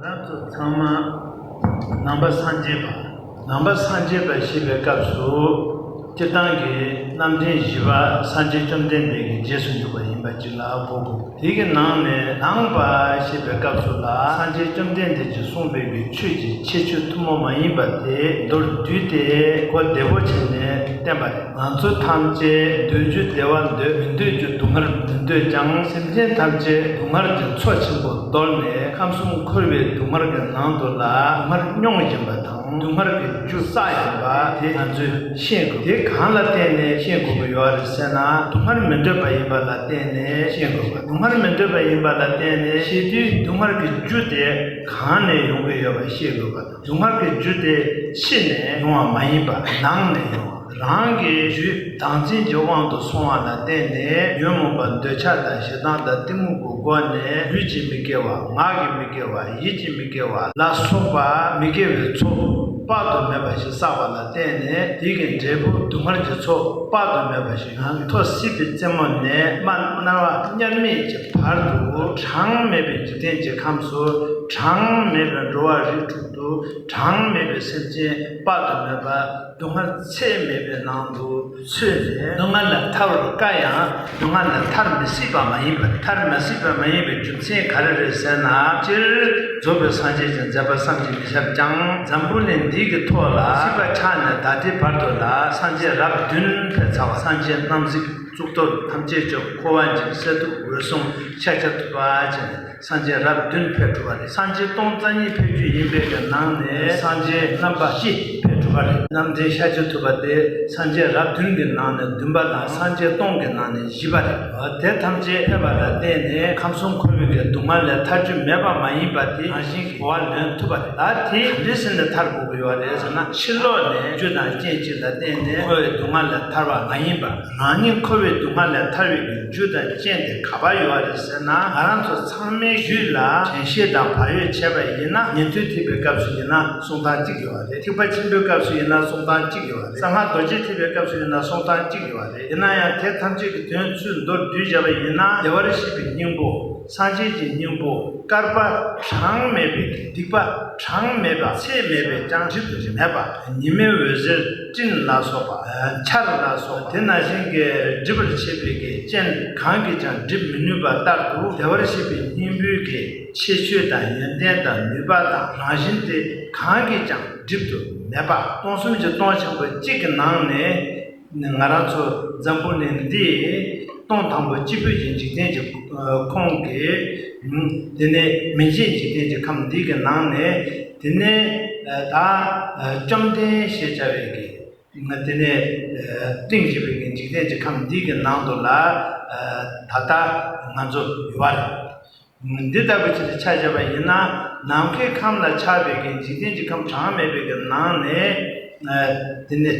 རབ་ཏུ་ཚང་མ་ནང་པ་སངས་རྒྱས་པ། ནང་པ་སངས་རྒྱས་པ་ཞེས་པའི་སྐབས་སུ་སྤྱིར་བཏང་གི་རྣམ་མཁྱེན་བཞི་པ་སངས་རྒྱས་བཅོམ་ལྡན་འདས་ཀྱི་རྗེས་སུ་འཇུག་པ་ཡིན་པ་གཅིག་ལ་གོ་དགོས། དེ་གི་ནང་ནས་ནང་པ་ཞེས་པའི་སྐབས་སུ་ལ་སངས་རྒྱས་བཅོམ་ལྡན་འདས་ཀྱིས་གསུངས་པའི་གི་ཆོས་ཀྱི་ཁྱད་ཆོས་ཐུན་མོང་མ་ཡིན་པ་དེ་མདོར་བསྡུས་ཏེ་གོ་བདེ་བོ་བྱས་ནས་བསྟན་པ་རེད། ང་ཚོ་ཐམས་ཅད་འདོད་རྒྱུ་བདེ་བ་འདོད་མི་འདོད་རྒྱུ་སྡུག་བསྔལ་མི་འདོད་ཀྱང་སེམས་ཅན་ཐམས་ཅད་སྡུག་བསྔལ་གྱི་མཚོ་ཆེན་པོར་གཏོར་ནས་ཁམས་གསུམ་འཁོར་བའི་སྡུག་བསྔལ་གྱི་ནང་དུ་ལ་སྡུག་བསྔལ་མྱོང་བཞིན་པ་དང་སྡུག་བསྔལ་གྱི་རྒྱུ་ས་ཡིན་པ་དེ་ང་ཚོས་ཤེས་དགོས་དེ་གང་ལ་བརྟེན་ནས་ཤེས་དགོས་པ་ཡོད་རེད་ཟེར་ན་སྡུག་བསྔལ་མི་འདོད་པ་ཡིན་པ་ལ་བརྟེན་ནས་ཤེས་དགོས་པ་སྡུག་བསྔལ་མི་འདོད་པ་ཡིན་པ་ལ་བརྟེན་ནས་ཤེས་དུས་སྡུག་བསྔལ་གྱི་རྒྱུ་དེ་གང་ནས་ཡོང་གི་ཡོད་པ་ཤེས་དགོས་པ་དང། དུག་ལྔ་གི་རྒྱུ་དེ་ཕྱི་ནས་ཡོང་བ་མ་ཡིན་པར་ནང་ནས་ཡོང་བ་རང་གི་རྒྱུད་དང་རྩིས་ཀྱི་དབང་དུ་སོང་བ་ལ་བརྟེན་ནས་ཉོན་མོངས་པ་འདོད་ཆགས་དང་ཞེ་སྡང་དང་གཏི་མུག་གི་སྒོ་ནས་ལུས་ཀྱི་མི་དགེ་བ་ངག་གི་མི་དགེ་བ་ཡིད་ཀྱི་མི་དགེ་བ་ལ་སོགས་པ་མི་དགེ་བའི་ཚོགས་དཔག་ཏུ་མེད་པ་ཞིག་བསགས་པ་ལ་བརྟེན་ནས་དེ་གི་འབྲས་བུ་དུག་ལྔར་གྱི་ཚོགས་དཔག་ཏུ་མེད་པ་ཞིག་ནང་མཐོ་སྲིད་པའི་རྩེ་མོ་ནས་རྨ་རྣ་བ་དམྱལ་མེད་ཀྱི་བར་དུ་གྲངས་མེད་པའི་འཇིག་རྟེན་གྱི་ཁམས་སུ་གྲངས་མེད་པའི་འགྲོ་བ་རིགས་དྲུག་ཏུ་གྲངས་མེད་པའི་སེམས་ཅན་དཔག་ཏུ་མེད་པ་སྡུག་བསྔལ་ཚད་མེད་པའི་ནང་དུ་ཚུད་ནས་སྡུག་བསྔལ་ལས་ཐར་བར་དཀའ་ཡང་སྡུག་བསྔལ་ལས་ཐར་མི་སྲིད་པ་མ་ཡིན་པར་ཐར་མ་སྲིད་པ་མ་ཡིན་པའི་རྒྱུ་ཅན་ག་རེ་རེད་ཟེར་ན་སྤྱིར་རྫོགས་པའི་སངས་རྒྱས་ཀྱི་མཛད་པ་བསམ་གྱིས་མི་ཁྱབ་ཀྱང་འཛམ་བུ་ནས་འདི་གི་ཐོག་ལ་ཤིས་པ་ཕྱག་ནས་བདག་ལྟའི་བར་དུ་ལ་སངས་རྒྱས་རབས་བདུན་ཕལ་ཚ་བ་སངས་རྒྱས་རྣམ་གཟིགས་གཙུག་ཏོར་ཐམས་ཅད་མཆོག་འཁོར་བ་འཇིགས་གསལ་ཐུགས་འོད་སྲུང་ཤཱ་ཀྱ་ཐུབ་པ་བཅས་ནས་སངས་རྒྱས་རབས་བདུན་ཕལ་གྲུབ་པ་རེད་སངས་རྒྱས་སྟོང་རྩ་གཉིས་ཕལ་རྒྱུད་ཡིན་པའི་གི་ནང་ནས་སངས་རྒྱས་རྣམ་པ་བཞི་ཕལ་གྲུབ་པ་རེད་རྣམ་འདྲེན་ཤཱ་ཀྱ་ཐུབ་པ་དེ་སངས་རྒྱས་རབས་བདུན་གྱི་ནང་ནས་བདུན་པ་དང་སངས་རྒྱས་སྟོང་གི་ནང་ནས་བཞི་པ་རེད། དེ་ཐམས་ཅད་ཕན་པ་ལ་བརྟེན་ནས་ཁམས་གསུམ་འཁོར་བའི་འགལ་འདུ་མ་ལས་ཐར་རྒྱུ་མེད་པ་མ་ཡིན་པ་དེ་རང་བཞིན་གྱིས་གོ་བ་ལོན་ཐུབ་པ་རེད། ད་དེ་ག་འདྲའི་ཟིན་ནས་ཐར་དགོས་ཀྱི་ཡོད་རེད་ཟེར་ན་ཕྱིར་ལོག་ནས་རྒྱུ་དང་རྐྱེན་གཅིག་ལ་བརྟེན་ནས་འཁོར་བའི་སྡུག་བསྔལ་ལས་ཐར་བ་མ་ཡིན་པར་རང་ཉིད་འཁོར་བའི་སྡུག་བསྔལ་ལས་ཐར་བའི་རྒྱུ་དང་རྐྱེན་དེ་ག་པར་ཡོད་རེད་ཟེར་ན་ང་རང་ཚོ་ཚང་མའི་རྒྱུད་ལ་དྲན་ཤེས་དང་བག་ཡོད་བྱས་པ་ཡིན་ན་ཉན་ཐོས་ཐེག་པའི་སྐབས་སུ་ཡིན་ན་གསུང་སྟངས་གཅིག་ཡོད་རེད་ཐེག་པ་ཆེན་པོའི་སྐབས་སུ་ཡིན་ན་གསུང་སྟངས་གཅིག་ཡོད་རེད་གསང་སྔགས་རྡོ་རྗེ་ཐེག་པའི་སྐབས་སུ་ཡིན་ན་གསུང་སྟངས་གཅིག་ཡོད་རེད། ཡིན་ན་ཡང་དེ་ཐམས་ཅད་ཀྱི་དོན་ཚུར་མདོར་བསྡུས་བྱ་བ་ཡིན་ན་བདེ་བར་གཤེགས་པའི་སྙིང་པོ་སངས་རྒྱས་ཀྱི་སྙིང་པོ་བསྐལ་པ་གྲངས་མེད་པའི་སྡིག་པ་གྲངས་མེད་པ་ཚད་མེད་པའི་སྤྱང་གྲིབ་མེད་པ་ཉི་མའི་འོད་ཟེར་སྤྲིན་ལ་སོགས་པ་ཆར་ལ་སོགས་པ་དེ་ན་བཞིན་གྱི་སྒྲིབ་པར་བྱེད་པའི་གེགས་ཅན་གང་གིས་ཀྱང་སྒྲིབ་མི་ནུས་པ་ལྟར་དུ་བདེ་བར་གཤེགས་པའི་སྙིང་པོའི་གེགས་ཕྱེད་ཆོས་དང་ཡོན་ཏན་དང་ནུས་པ་དང་རང་བཞིན་དེ་གང་གིས་ཀྱང་སྒྲིབ་ཏུ་མེད་པ་སྟོང་གསུམ་གྱི་སྟོང་ཆེན་པོ་གཅིག་གི་ནང་ནས། ང་རང་ཚོ་འཛམ་བུ་གླིང་འདིའི་སྟོང་དང་པོ་སྤྱི་ཕུད་ཀྱི་འཇིག་རྟེན་གྱི་ཁོངས་ཀྱི། དེ་ནི་མི་མཇེད་འཇིག་རྟེན་གྱི་ཁམས་འདི་གི་ནང་ནས་དེ་ནི་ད་བཅོམ་ལྡན་ཞེས་བྱ་བའི་གིས་དེ་ནི་སྟེང་སྤྱི་ཕུད་ཀྱི་འཇིག་རྟེན་གྱི་ཁམས་འདི་གི་ནང་དུ་ལ་ད་ལྟ་ང་ཚོ་ཡོད་པ་རེད། འདི་ལྟ་བུའི་ཆེད་དུ་ཕྱག་བྱ་བ་ཡིན་ན་ནམ་མཁའི་ཁམས་ལ་ཆགས་པའི་གན་འཇིག་རྟེན་གྱི་ཁམས་གྲངས་མེད་པའི་གི་ནང་ནས་འདི་ནི་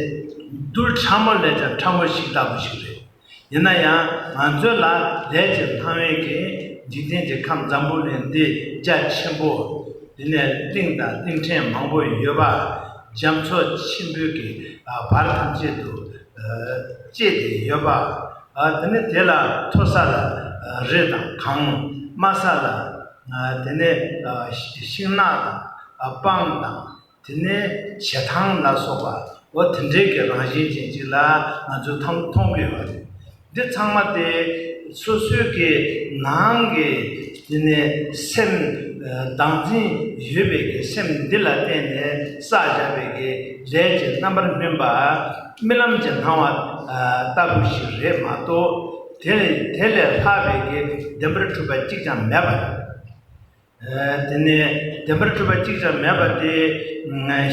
རྡུལ་ཕྲ་མོ་ལས་ཀྱང་ཕྲ་མོ་ཞིག་ལྟ་བུ་ཞིག་རེད། ཡིན་ན་ཡང་ང་ཚོའི་ལ་ལས་ཀྱི་ལྷ་བའི་གན་འཇིག་རྟེན་གྱི་ཁམས་འཛམ་བུ་གླིང་འདི་རྒྱ་ཆེན་པོ་འདི་ནས་གླིང་དང་གླིང་ཕྲན་མང་པོ་ཡོད་པ་རྒྱ་མཚོ་ཆེན་པོའི་གི་བར་ཐམས་ཅད་དུ་བཅས་ཏེ་ཡོད་པ། དེ་ནས་དེ་ལ་མཐོ་ས་ལ་རི་དང་གངས། དམའ་ས་ལ་དེ་ནས་ཤིང་ནགས་དང་སྤང་དང། དེ་ནས་བྱེ་ཐང་ལ་སོགས་པའོ། དེ་འདྲའི་གི་རང་བཞིན་ཅན་ཅིག་ལ་ང་ཚོས་མཐོང་གི་ཡོད་པ་རེད། འདི་ཚང་མ་དེ་སོ་སོའི་གི་ནང་གི་དེ་ནས་སེམས་བདག་འཛིན་ཡོད་པའི་གི་སེམས་འདི་ལ་བརྟེན་ནས་བསགས་བཞག་པའི་གི་ལས་ཀྱི་རྣམ་པར་སྨིན་པ་རྨི་ལམ་གྱི་སྣང་བ་ལྟ་བུ་ཞིག་རེད་མ་གཏོགས་དེ་དེ་ལས་ལྷག་པའི་གི་བདེན་པར་གྲུབ་པ་གཅིག་ཀྱང་མེད་པ་རེད། དེ་ནས་བདེན་པར་གྲུབ་པ་གཅིག་ཀྱང་མེད་པ་དེ་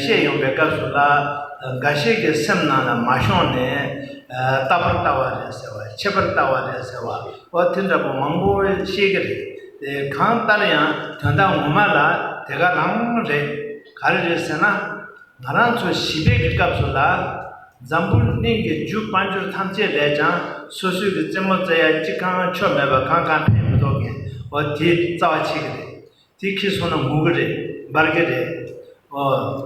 ཤེས་ཡོང་པའི་སྐབས་སུ་ལ། འགའ་ཞིག་གི་སེམས་ནང་ལ་མ་ཤོང་ནས། རྟག་པར་ལྟ་བ་རེད་ཟེར་བ། ཆད་པར་ལྟ་བ་རེད་ཟེར་བ། ཨོ་དེ་འདྲ་པོ་མང་པོ་ཤེས་ཀྱི་རེད། དེ་གང་ལྟར་ཡང་དོན་དག་ངོ་མ་ལ་དེ་ག་རང་རེད། ག་རེ་རེད་ཟེར་ན། ང་རང་ཚོ་ཞི་བདེ་གི་སྐབས་སུ་ལ། འཛམ་བུ་གླིང་གི་རྒྱུ་དཔལ་འབྱོར་ཐམས་ཅད་ལས་ཀྱང་སོ་སོའི་གི་རྩེད་མོ་རྩེ་ཡ་གཅིག་གང་ཆོ་མེད་པར་གང་གང་ཕན་མི་ཐོག་གི་འོ་དེ་རྩ་བ་ཆེ་གི་རེད། དེ་ཁི་སོང་ན་ངུ་གི་རེད་འབར་གི་རེད། འོ་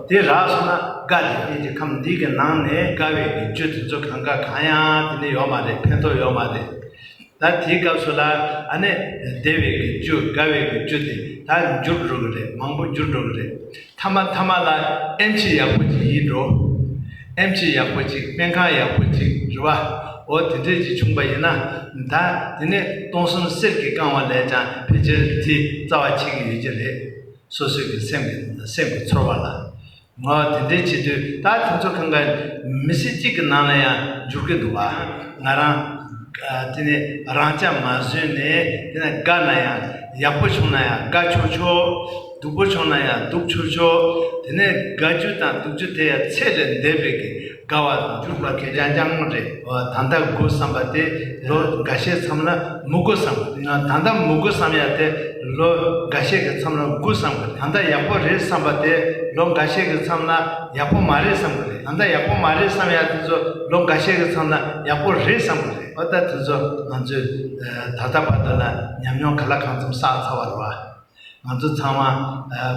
དེ་རག་སོང་ན་དགའ་རེད་གནས་ཀྱི་ཁམས་འདི་གི་ནང་ནས་དགའ་བའི་གི་རྒྱུ་དེ་ཚོ་གང་ག་གང་ཡང་དེ་ནི་ཡོག་མ་རེད་ཕན་ཐོག་ཡོག་མ་རེད། ད་དེའི་སྐབས་སུ་ལ་ཨ་ནས་སྡེ་བའི་གི་རྒྱུ་དགའ་བའི་གི་རྒྱུ་དེ་ད་འགྱུར་འགྲོ་གི་རེད་མང་པོ་འགྱུར་འགྲོ་གི་རེད་མཐའ་མ་མཐའ་མ་ལ་ཨེམ་ཆི་ཡག་པོ་ཅིག་ཡིན་འགྲོ། ཨེམ་ཆི་ཡག་པོ་ཅིག་སྨན་ཁང་ཡག་པོ་ཅིག་རེད་བ། འོ་དེ་འདྲས་ཅིག་བྱུང་པ་ཡིན་ན་ད་དེ་ནས་སྟོང་གསུམ་གསེར་གྱི་བཀང་བ་ལས་ཀྱང་ཕལ་ཆེར་དེ་རྩ་བ་ཆད་གི་ཡོད་ཀྱི་རེད། སོ་སོའི་གི་སེམས་གི་སེམས་གི་ཚོར་བ་ལ། ང་དེ་འདྲའི་བྱེད་དུས་ད་དེ་ཚོ་གང་གཱའི་མི་སེར་གཅིག་གི་ནང་ལ་ཡང་འཇུག་གི་འདུག་བ། ང་རང། དེ་ནས་རང་ཅག་མ་བཟོད་ནས་དེ་ནས་དགའ་ན་ཡང་ཡག་པོ་བྱུང་ན་ཡང་དགའ་ཆོག་ཆོག། སྡུག་པོ་བྱུང་ན་ཡང་སྡུག་ཆོག་ཆོག་དེ་ནས་དགའ་རྒྱུ་དང་སྡུག་རྒྱུ་དེ་ཡང་ཚད་ལས་འདས་པའི་གི། དགའ་བ་དང་འཇུག་པ་གས་ཀྱང་ཀྱང་རེད། ད་ལྟ་དགོས་བསམ་པ་དེ་ལོ་འགའ་ཤས་མཚམས་ལ་མི་དགོས་བསམ། ད་ལྟ་མི་དགོས་བསམ་ཡག་དེ་ལོ་འགའ་ཤས་ཀྱི་མཚམས་ལ་དགོས་བསམ་གི་ད་ལྟ་ཡག་པོ་རེད་བསམ་པ་དེ་ལོ་འགའ་ཤས་ཀྱི་མཚམས་ལ་ཡག་པོ་མ་རེད་བསམ་གི་རེད་ད་ལྟ་ཡག་པོ་མ་རེད་བསམ་ཡག་དེ་ཚོ་ལོ་འགའ་ཤས་ཀྱི་མཚམས་ལ་ཡག་པོ་རེད་བསམ་གི་རེད་ཨོ་ད་དེ་ཚོ་ང་ཚོས་ད་ལྟ་བར་དུ་ལ་ཉམས་མྱོང་ག་ལ་གང་ཙམ་བསགས་ཚར་བ་རེད་བ། ང་ཚོ་ཚང་མ་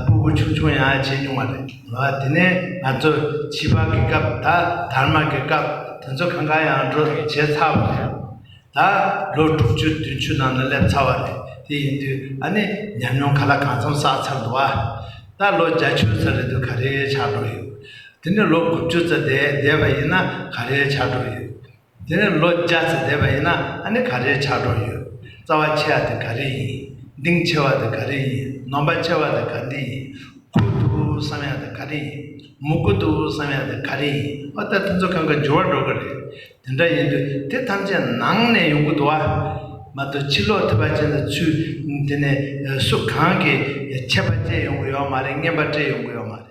སྤུ་སྤུ་ཆུང་ཆུང་ཡང་བྱས་མྱོང་བ་རེད། དེ་ནས་ང་ཚོ་བྱིས་པ་གི་སྐབས་ད་དར་མ་གི་སྐབས་དེ་ཚོ་གང་གང་ཡང་འགྲོ་བྱས་ཚར་བ་རེད། ད་ལོ་དྲུག་ཅུ་བདུན་ཅུ་ནང་ན་སླེབས་ཚར་བ་རེད། དེ་ཡིན་དུས་ཨ་ནི་ཉམས་མྱོང་ག་ལ་གང་འཚམ་བསགས་ཚར་འདུག་ཨ། ད་ལོ་བརྒྱ་ཆུ་ཚ་རེད་འདུག་ག་རེའི་ཆགས་འགྲོ་ཡོད། དེ་ནས་ལོ་དགུ་བཅུ་ཚ་འདས་བསྡད་པ་ཡིན་ན་ག་རེའི་ཆགས་འགྲོ་ཡོད། དེ་ནས་ལོ་བརྒྱ་ཙམ་འདས་པ་ཡིན་ན་ཨ་ནི་ག་རེའི་ཆགས་གྲོགས་ཡོད། རྩ་བ་ཆེ་བ་དེ་ག་རེ་ཡིན། གདིང་ཆེ་བ་དེ་ག་རེ་ཡིན་ནོམ་པ་ཆེ་བ་དེ་ག་འདི་ཡིན། ཁུ་འདུག་བསམ་ཡག་དེ་ག་རེ་ཡིན། མུ་གུ་འདུག་བསམ་ཡག་དེ་ག་རེ་ཡིན་ཨོ་ལྟ་དེ་ཚོ་གང་གི་འགྱུར་བ་འགྲོ་གི་རེད། དེ་འདྲ་ཡིན་དུས་དེ་ཐམས་ཅད་ནང་ནས་ཡོང་གི་འདུག་ཨ། མ་གཏོགས་ཕྱི་ལོག་ཐེ་བ་ཅན་དང་ཚུལ་དེ་ནས་སུ་གང་གིས་ཆད་པ་བཅད་ཡོང་གི་ཡོད་མ་རེད་རྔན་པ་སྤྲད་ཡོང་གི་ཡོད་མ་རེད།